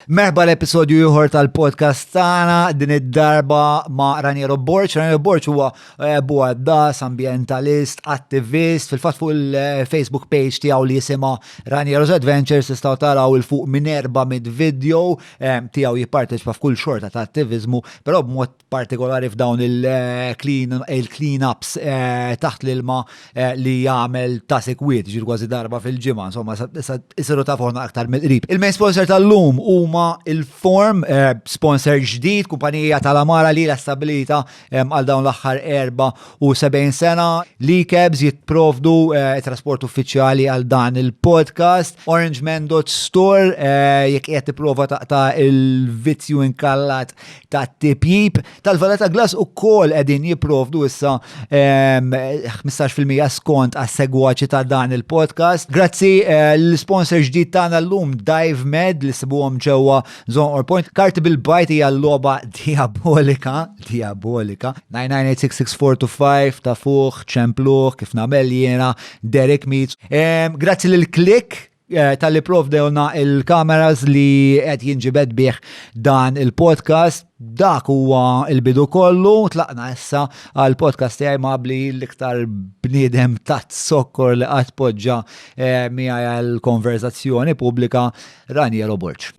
Merħba l-episodju ieħor tal-podcast tagħna din id-darba ma' Raniero Borċ. Raniero Borċ huwa eh, buaddas, ambientalist, attivist, fil-fatt fuq il-Facebook page tiegħu li jisimha Raniero's Adventures tistgħu taraw il fuq minn erba' mid video eh, tiegħu jipparteċipa f'kull xorta ta' attivizmu, però b'mod partikolari f'dawn il-clean-ups eh, taħt l-ilma eh, li jagħmel ta' sekwit ġir kważi darba fil-ġimgħa, insomma, isiru ta' forna aktar mill-qrib. Il-main sponsor tal-lum huma il-Form, eh, sponsor ġdid, kumpanija tal-Amara li l stabilita għal dawn l-aħħar 74 sena. Li kebs jitprovdu trasport uffiċjali għal dan il-podcast. Orange Man Store, jekk qed tipprova taqta' il-vizzju inkallat ta' tipjib tal-valeta glass u kol edin jiprovdu issa 15% skont għas segwaċi ta' dan il-podcast. Grazzi eh, l-sponsor ġdid tagħna llum Dive Med li sibuhom ġewwa Zone or Point. Karti bil-bajt hija logħba diabolika, diabolika. 9986645 ta' fuq, ċempluħ, kif nagħmel jiena, Derek Meets. Grazzi lil Klik Eh, tal-li provdewna il-kameras li qed jinġibed bih dan il-podcast. Dak huwa il-bidu kollu, tlaqna issa għal podcast tiegħi mabli l-iktar bniedem tat sokkor li qatt poġġa eh, miegħi għal konverzazzjoni pubblika Raniero Borċ.